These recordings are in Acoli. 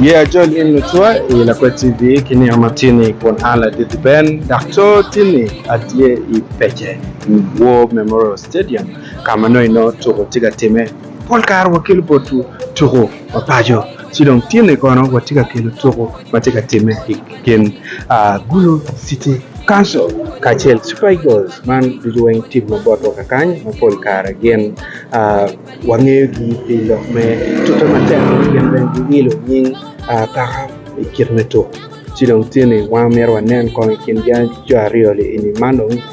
Ye ajol in lucwa i Lakwed TV ki nino ma tye ni kun an ladit Ben dok coo tye ni atye i pece War Memorial Stadium ka ma nongo i nongo tuko tye ka time. Pol kare wa kelo botwu tuko ma paco ci dong tye ni kono watye ka kelo tuko ma tye ka time i Gin Gulu City Council kacel ki Super Eagles man ducu weng tim ma botwa kakany ma pol kare gin wangeyogi pi lok me tuke matek ma gin bene giilo nying kaka i kit me tuko ci dong tye ni wan myero wanen kong i kin jo aryo-ni man dong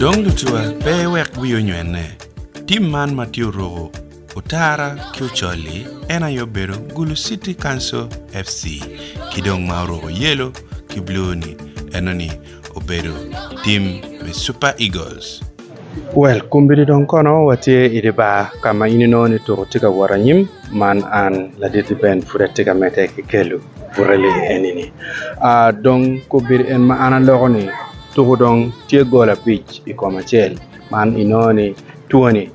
Dong lucuwa pe wek wii onywene, tim man ma tye oruku otara ki ocol-li en aye obedo Gulu City Council FC ki dong ma oruku yelo ki blue-ni enoni obedo tim me Super Eagles. Well kombeddi dong kono watye i dye bar ka ma in inongo ni tuko tye ka wot anyim. Man an Laditti Ben pud atye ka medde ki kelu burali eni-ni. Dong kombeddi en ma an aloko ni tuko dong tye gol abic i kom acel man inongo ni twoni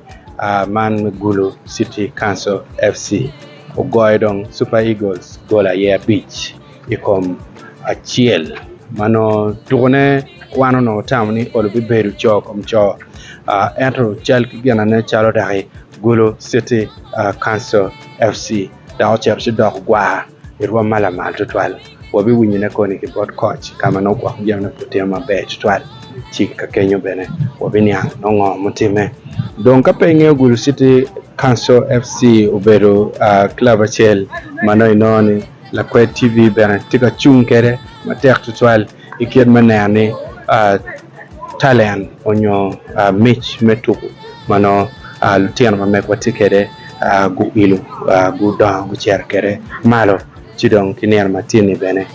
man me Gulu City Council FC ogoyo dong Super Eagles gol aye abic. i kom acel ma nongo tukune wan onongo watamo ni Olo bibedo coo kom coo ento cal ki ginane calo dok i Gulu City Council FC dok ocito ci doko gwar i rwom ma lamal tutwal. Wabiwinyone koni ki bot koc ka ma nongo gwoko jami nongo pe otimo maber tutwal ci ka kenyo bene wabiniang nongo ngo mutimme. Dong ka pe ingeyo Gulu City Council FC obedo club acel ma nongo inongo ni Lakwed TV bene tye ka cung kwede matek tutwal i kit me neno ni talent nyo mic me tuku ma nongo lutino ma megwa tye kwede guilo, gudongo gucito kwede malo. Ci dong ki nino ma tye-ni bene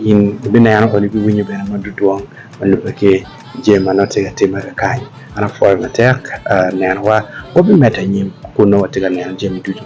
in ibineno kadi ibiwinyo bene ma dudwong ma lubbe ki jami ma nongo tye ka timme kany. An apwoyo matek nenowa wabimedde anyim kun nongo watye ka neno jami ducu.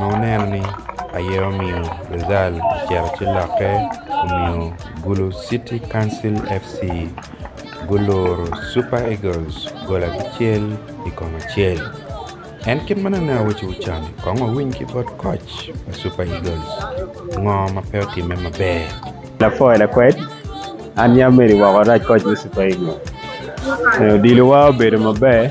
ma oneno ni aye omiyo Rezal ocito ci lokke omiyo Gulu City Council FC guluro Super Eagles gol abicel i kom acel. En kit ma nene awaco wu can kong wawiny ki bot koc pa Super Eagles ngo ma pe otime maber. Lapor lakwed, An yam meri woko rac koc me Super Eagles. Odilo wa obedo maber.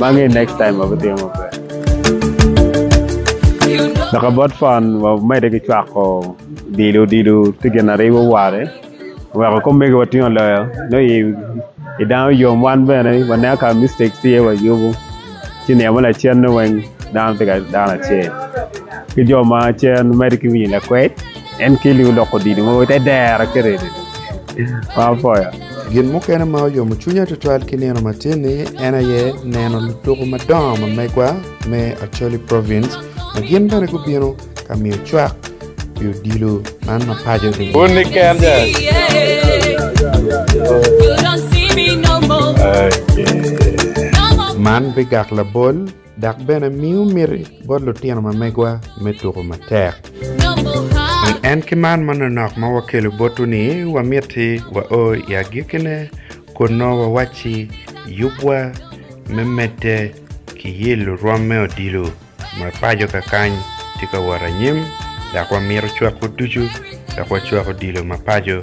Magi next time wabitimo maber. Dok about phone wamede ki cwako odilo odilo tye gin na ribo ware weko kop mege watingo loyo nongo i, i dano yom wan bene waneno ka mistakes tye wayubu ci nino me lacenne weng dano tye ka dano acel ki jo ma cen mede ki winyo lakwed. En keli oloko didi mogo ite dero ki ridi ma apoyo. Gin mukene ma oyomo cwinya tutwal ki nino matin-ni en aye neno lutuku madongo ma megwa me Acholi Province ma gin bene gubino ka miyo cwak pi odilo man ma paco dong man bigak labol dok bene miyo miti bot lutino ma megwa me tuku matek. Pi en ki mar manonok ma wakelo botwu-ni, wamiti wa o i agikkine kunnu wawacci, Yubwa me medde ki yelo rwom me odilo ma paco kakany tye ka wot anyim, dok wamito cwakwu ducu dok wacwak odilo ma paco.